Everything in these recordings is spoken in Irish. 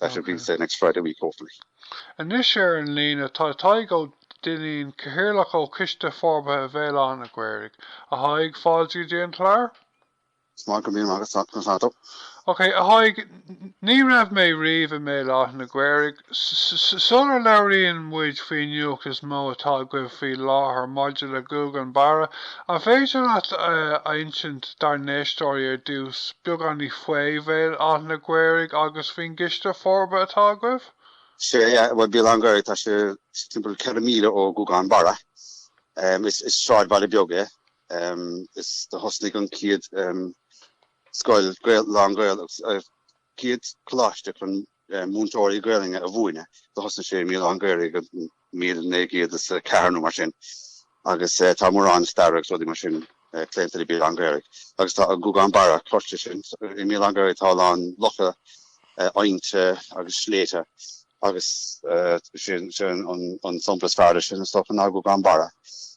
That will be the next Friday week, hopefully. Anois ar an líne tá Tadhg Ó Duinnín, Cathaoirleach ó Choiste Forbartha Bhéal Átha an Ghaorthaidh. A Thaidhg, fáilte go dtí an clár. Is maith go mbím agat sat na fado. Ok, a Thaidhg, ní raibh mé riamh i mBéal Átha an Ghaorthaidh. Sular labhraíonn muid faoin nuacht is mó atá agaibh faoi láthair maidir le Guagán Barra, An féidir leat a insint dár n-éisteoirí ar dtús beagáinín faoi Bhéal Átha an Ghaorthaidh agus faoin gCoiste Forbartha atá agaibh? Sea, bhuel, Béal Átha an Ghaorthaidh, tá sé timpeall ceithre míle ó Ghuagán Barra. Is sráidbhaile beag é. Is do thosnaigh an chéad scoil lán-Ghaeilge, an chéad coláiste chun múinteoirí Gaelainne a mhúineadh do thosnaigh sé i mBéal Átha an Ghaorthaidh i 1904 nó mar sin agus tá mórán staire agus rudaí mar sin claonta le Béal Átha an Ghaorthaidh agus tá Guagán Barra cloiste sin i mBéal Átha an Ghaorthaidh tá a lán locha aibhnte agus sléibhte agus sin an sampla is fearr de sin is dócha ná Guagán Barra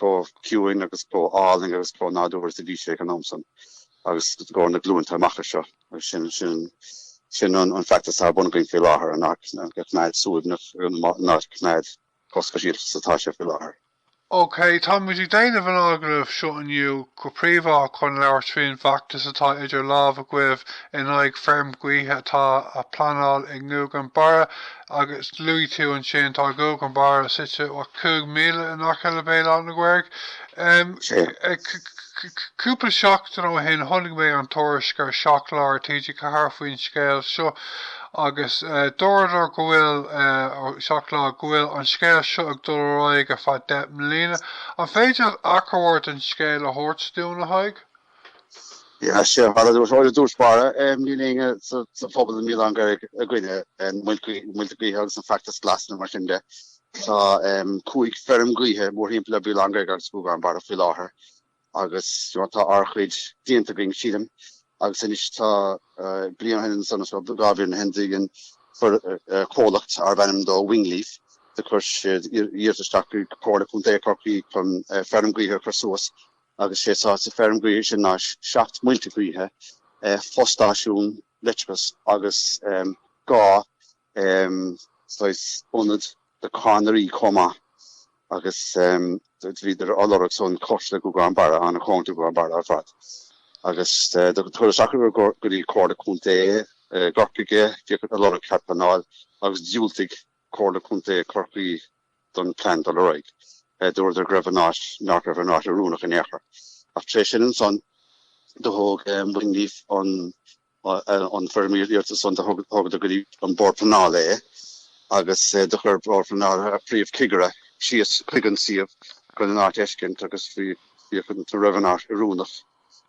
chomh ciúin agus chomh álainn agus chomh nádúrtha is a bhí sé ag an am san agus i gcomhair na glúnta amach anseo. Agus sin an feachtas atá ar bun againn faoi láthair an áit a choimeád suaimhneach, an áit a choimeád chomh speisialta is atá sé faoi láthair. OK, tá muid ag déanamh an agallamh seo inniu go príomhach chun labhairt faoi an bhfeachtas atá idir lámh agaibh in aghaidh feirm gaoithe atá á pleanáil i nGuagán Barra agus luaigh tú ansin tá Guagán Barra suite ó cúig míle in aice le Béal Átha an Ghaorthaidh. Cúpla seachtain ó shin chonaic mé an tuairisc ar Seacht Lá TG4 faoin scéal seo agus dúradar go bhfuil, ó Seacht Lá, go bhfuil an scéal seo ag dul ar aghaidh ar feadh deich mbliana. An féidir leat achomharc den scéal a thabhairt dúinn, a Thaidhg? Is féidir, bhuel i dtús báire níl éinne sa phobal i mBéal Átha an Ghaorthaidh i gcoinne na muilte gaoithe agus an feachtas glas nó mar sin de. Tá cúig feirm gaoithe mórthimpeall i mBéal Átha an Ghaorthaidh agus Guagán Barra faoi láthair agus tá ár chuid déanta againn sílim agus anois tá bliain ó shin ansan, dhá bhliain ó shin do dhein comhlacht arbh ainm dó Wingleaf do chuir siad iarratas isteach chuig Comhairle Contae Chorcaí chun feirm gaoithe a chur suas Agus sé atá sa feirm gaoithe sin ná seacht muilte gaoithe, fo-stáisiún leictreachais agus dhá saghas ionad do cadhnraí chomh maith. Agus bhíodar á lorg san cóngarach do Ghuagán Barra, ana-chóngarach do Ghuagán Barra ar fad. Agus do chuireadar isteach go dtí Comhairle Contae Chorcaí, bhíodar ag lorg cead pleanáil agus dhiúltaigh. Comhairle Contae Chorcaí don plean dul ar aghaidh. Dúradar go raibh an áit nach raibh an áit oiriúnach in aon chor. Ach tar éis sin ansan do thóg Wingleaf an an foirm iarratais san do thugadar go dtí an Bord Pleanála é agus do chuir an Bord Pleanála a Phríomh Chigire síos chuig an suíomh chun an áit a fheiscint agus bhí bhí chun an raibh an áit oiriúnach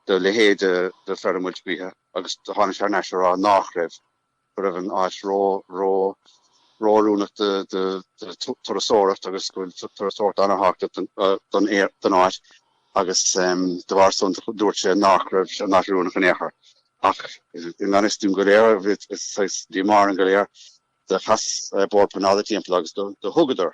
do leithéid de feirm muilte gaoithe agus do tháinig sé ar ais á rá nach raibh. go raibh an áit ró ró-oiriúnach do turasóireacht agus go bhfuil turasóireacht an-thábhachtach don áit agus de bharr san dúirt sé nach raibh an áit oiriúnach in aon chor. Ach i ngan fhios dúinn go léir is díomá orainn go léir do chas Bord Pleanála timpeall agus do thugadar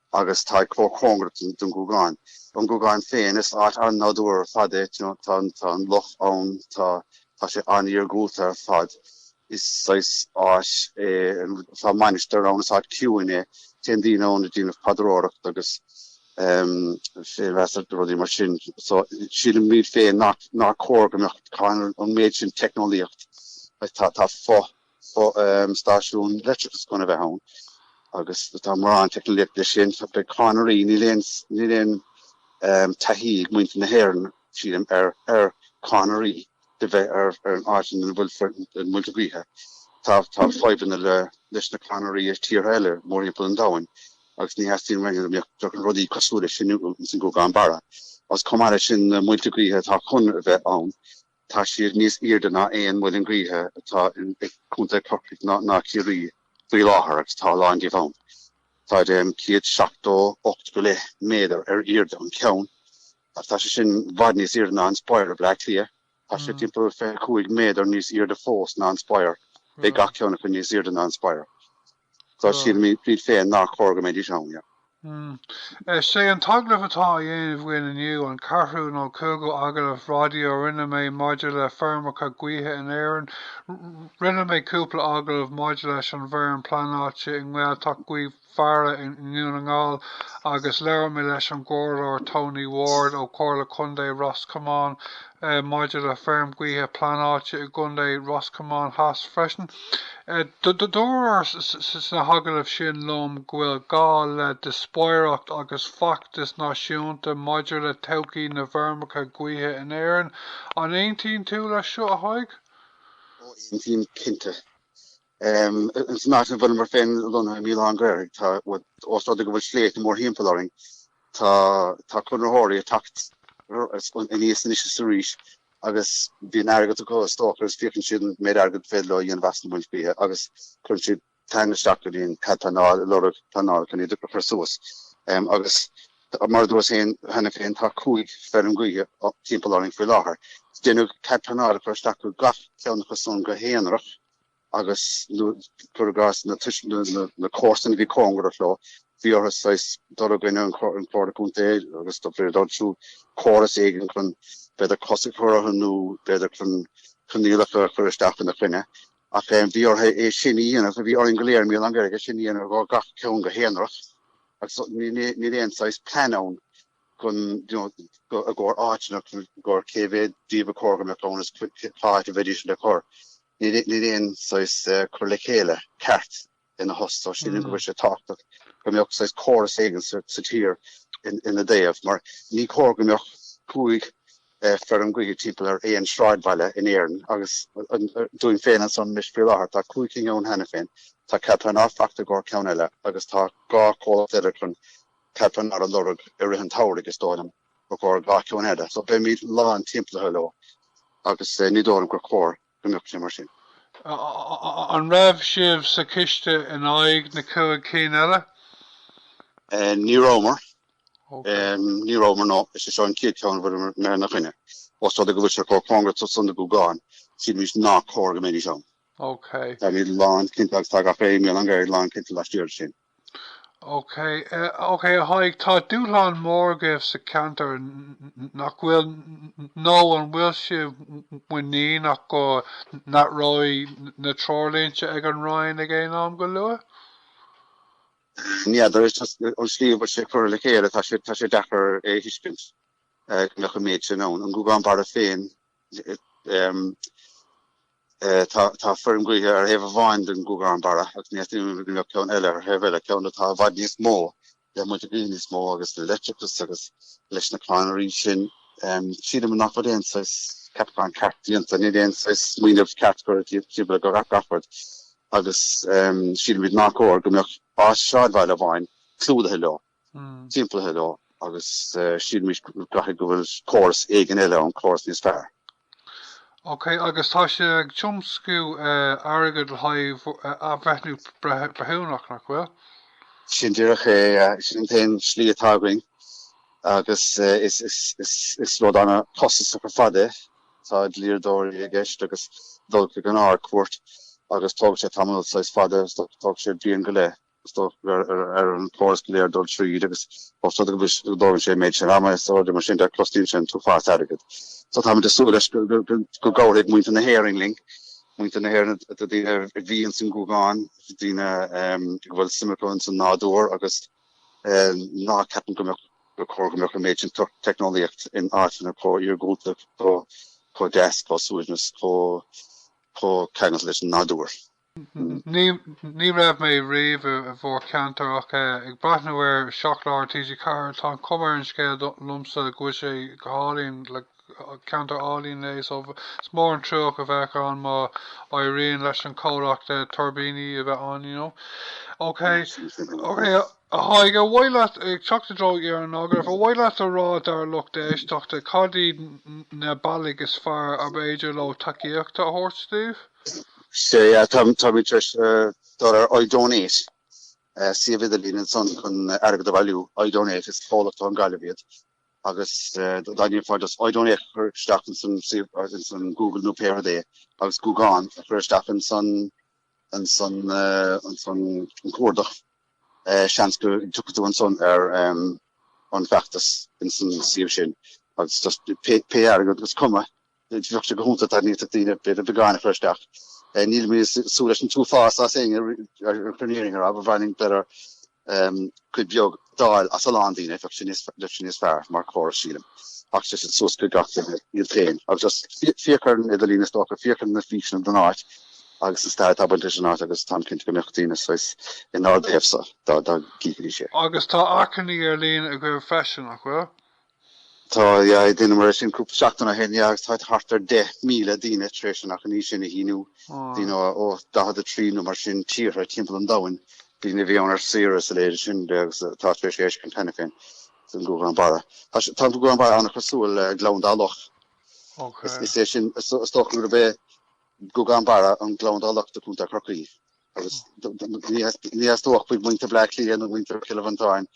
agus tá chomh cóngarach don don Ghuagán. An Guagán féin is áit an nádúir ar fad é, you know, tá tá an loch ann, tá tá sé an-iargúlta ar fad. Is saghas áit é an tá mainistir ann, is áit ciúin é. Téann daoine ann ag déanamh paidreoireacht agus ehm féinmheas agus rudaí mar sin. So sílimid féin nár nár cóir go mbeadh cá hionann an méid sin teicneolaíocht. Tá tá fo stáisiún leictreachais chun a bheith ann agus tá mórán teicneolaíocht leis sin. Beidh cadhnraí, níl aon, níl aon taithí ag muintir na hÉireann, sílim, ar, ar cadhnraí do bheith ar, ar an áit ina bhfuil na muilte gaoithe. Tá, tá fadhbanna le, leis na cadhnraí i tíortha eile mórthimpeall an domhain agus ní theastaíonn uainn go mbeadh, beadh rudaí cosúil leis sin sa Ghuagán Barra. Agus chomh maith leis sin, na muilte gaoithe atá chun a bheith ann, Tá siad níos aoirde ná aon muileann gaoithe atá i Contae Chorcaí ná i Ciarraí faoi láthair agus tá a lán díobh ann. Táid ehm céad seachtó ocht go leith méadar ar aoirde an ceann agus tá sé sin i bhfad níos aoirde ná an Spire i Bleá Cliath. Tá sé timpeall fiche cúig méadar níos aoirde fós ná an Spire. Beidh gach ceann acu níos aoirde ná an Spire. Tá siad mí fríd féin nach chóir go mbeidís ann, yeah. Is é an t-agallamh atá á dhéanamh againn inniu an ceathrú nó cúigiú agallamh raidió a rinne mé maidir le feirmeacha gaoithe in Éirinn. Rinne mé cúpla agallamh maidir leis an bhfeirm pleanáilte i nGaeltacht Ghaoth Bheara i nDún na nGall agus labhair mé leis an gComhairleoir Tony Ward ó Chomhairle Contae Ros Comáin maidir le feirm gaoithe pleanáilte i gContae Ros Comáin Theas freisin. Dúradh sna hagallaimh sin liom go bhfuil gá le díospóireacht agus feachtas náisiúnta maidir le todhchaí na bhfeirmeacha gaoithe in Éirinn. An aontaíonn tú leis seo, a Thaidhg? Ó aontaím, cinnte. Ins an áit ina a bhfuilimar féin lonnaithe i mBéal Átha an Ghaorthaidh, tá ós rud é go bhfuil sléibhte mórthimpeall orainn, tá conraitheoirí ag teacht anois is arís agus bíonn airgead acu is dócha agus féachann siad an méid airgid is féidir leo a dhéanamh as na muilte gaoithe agus cuireann siad téann isteach go dtí an cead pleanála a lorg, pleanáil chun iad a chur suas agus mar a dúras féin cheana féin tá cúig feirm gaoithe timpeall orainn faoi láthair. Déanadh cead pleanála a chur isteach do gach ceann acu san go haonarach. agus cuir i gcás na comharsana a bhí cóngarach leo, bhí orthu saghas dul i gcoinne an Chomhairle Contae agus d'oibrigh siad ar siúl córas éigin chun b'fhéidir cosc a chur orthu nó b'fhéidir chun coinníollacha a chur isteach ina choinne. Ach eh, bhí orthu é sin a dhéanamh, bhí orainn go léir i mBéal Átha an Ghaorthaidh é sin a dhéanamh do gach ceann go haonarach agus ní ní- níl aon saghas plean ann. chun, you know, i gcomhair áiteanna, chun i gcomhair cé mhéad díobh a chóir go mbeadh conas, cá háit a bheidís le cur. Níl, níl aon, saghas, cur le chéile ceart ina thaobh so sílim go bhfuil sé tábhachtach go mbeadh, saghas, córas éigin sa, sa tír in, ina dtaobh mar ní cóir go mbeadh cúig, eh, feirm gaoithe timpeall ar aon sráidbhaile in Éirinn agus, an, dúinn féin ansan anois faoi láthair tá cúig cinn ann cheana féin, tá cead pleanála fachta i gcomhair ceann eile agus tá dhá chomhlacht eile chun, Cead pleanála a lorg i rith an tsamhraidh is dóigh liom i gcomhair dhá cheann eile so beimid lán timpeallaithe leo agus ní dóigh liom gur chóir go mbeadh sé mar sin. An raibh sibh sa choiste in aghaidh na cúig cinn eile? Ní rabhamar. Ní rabhamar no is é seo an chéad cheann a bhfuilimar ina choinne. Ós rud é go bhfuil sé chomh cóngarach san don Ghuagán sílimid ná cóir go mbeidís ann. Táimid lán cinnte agus tá gach éinne i mBéal Átha an Ghaorthaidh lán cinnte laistiar de sin. OK, OK a Thaidhg, tá dúshlán mór agaibh sa cheantar, nach bhfuil? Nó an bhfuil sibh muiníneach go n-athróidh na treoirlínte ag an Roinn ag aon am go luath? N'fheadar, is an tslí a bhfuil sé curtha le chéile tá sé tá sé deacair é a thuiscint go mbeadh an méid sin ann. An Gúgán Barra féin Tá feirm gaoithe ar thaobh amháin den Ghuagán Barra agus anois go mbeadh ceann eile ar thaobh eile, ceann atá i bhfad níos mó le muilte gaoithe níos mó agus le leictreachas agus leis na cadhnraí sin. Sílim nach bhfuil aon saghas ceapachán ceart déanta, níl aon saghas smaoineamh ceart curtha díobh le gach aon rud agus sílimid nár chóir go mbeadh saghas sráidbhaile amháin clúdaithe leo. simplithe leo agus sílimid go gcaithfidh go bhfuil córas éigin eile ann, córas níos fearr. Ok, agus tá sé ag tiomscú airgead le haghaidh athbhreithniú breithiúnach, nach bhfuil? Sin díreach é, sin an t-aon slí atá againn agus is rud an-chostasach ar fad é. Tá dlíodóirí i gceist agus dul chuig an Ard-Chúirt agus tógann sé tamall saghas fada, tógann sé bliain go leith. ar an gcóras go léir dul tríd agus os rud é go dtógann sé an méid sin ama is mar sin de, cosnaíonn sé an t-uafás airgid. So táimid ag súil leis go gcabhródh muintir na hÉireann linn, muintir na hÉireann atá daoine a bhí ins an Gúgán, daoine a bhfuil suim acu ins an nádúr agus ná ceapann gur chóir go mbeadh an méid sin teicneolaíocht in áiteanna chomh iargúlta, chomh deas, chomh suaimhneasach, chomh ceangailte leis an nádúr. Ní raibh mé riamh i bhur ceantar ach ag breathnú ar Seacht Lá ar TG4 tá an chuma ar an scéal domsa go bhfuil sé go hálainn, ceantar álainn é so is mór an trua a bheadh ann má éiríonn leis an chomhlacht tuirbíní a bheith ann, you know. Ok, ok. A Thaidhg, ar mhaith leat, ag teacht i dtreo dheireadh an agallaimh, ar mhaith leat a rá dár lucht éisteachta cad iad na bealaigh is fearr ab fhéidir leo tacaíocht a thabhairt daoibh? Sea, yeah, táimid tar éis eh, dul ar iDonate, eh, suíomh idirlín ansan chun eh, airgead a bhailiú. iDonate is comhlacht ón nGaillimh iad agus eh, d- dá ndéanfá just iDonate a chur isteach insan suíomh- eh, insan Google nó pé rud é agus Gúgán a chur isteach insan ansan ansan an cuardach seans go dtiocfaidh tú ansan ar an bhfeachtas insan suíomh sin agus just pé pé airgead agus is cuma bheadh sé go hiontach dá ndéanfadh daoine b'fhéidir beagán a chur isteach. Eh, nílimid ag súil leis an t-uafás as éinne ar aon chor in aon chor ab ab fhearr linn em, cuid bheag d'fháil as a lán daoine, bheadh sé níos, bheadh sé níos fearr mar chóras sílim. Ach sé sin suas chuig gach duine iad féin. Agus just fé- féachaint ar an idirlíon is dócha, féachaint ar na físeáin don áit agus an stair atá bainte leis an áit agus táim cinnte go mbeadh daoine sásta in aon taobh linn dá, dá gcífidís é. Agus tá achainí ar líne agaibh freisin, nach bhfuil? Tá, yeah, dheineamar é sin cúpla seachtain ó shin, yeah, agus tá thart ar 10,000 daoine tar éis an achainí sin a shíniú, you Wow. know, ó 43 nó mar sin tíortha timpeall an domhain, daoine a bhí ann ar saoire is mar sin de, agus uh, tá tar éis éis an t-am a chaitheamh san Gúgán Barra. Tá sé- tá an Gúgán Barra an-chosúil le Gleann Dá Loch. Is, Okay. is é sin, is, is dócha gurb é Gúgán Barra an Gleann Dá Loch do Chontae Chorcaí. agus ní theastódh b'fhéidir muintir Bleá Cliath nó muintir Chill Mhantáin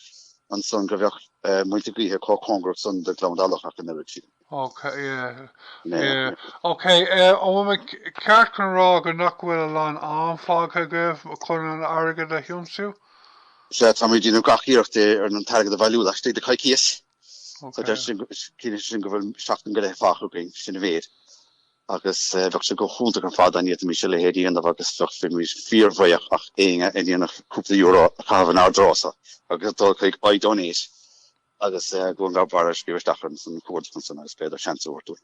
ansan go bheadh muilte gaoithe chomh cóngarach san do Ghleann Dá Loch ach an oiread siad. Ok yeah yeah ok eh an bhfuil mé ceart chun rá go nach bhfuil a lán am fágtha agaibh chun an airgead a thiomsú? Sea táimid ag déanamh gach iarracht ar an t-airgead a bhailiú laistigh de coicíos so ciallaíonn sé sin go bhfuil seachtain go leith fágtha againn sin a mhéid. agus bheadh sé go hiontach ar fad dá bhféadfaimis a leithéid a dhéanamh agus bheimis fíorbhuíoch d'éinne a dhéanfadh cúpla euro a chaitheamh inár dtreo so agus dul chuig iDonate agus Gougane Barra a scríobh isteach san chuardach ansan agus b'fhéidir seans a thabhairt dúinn.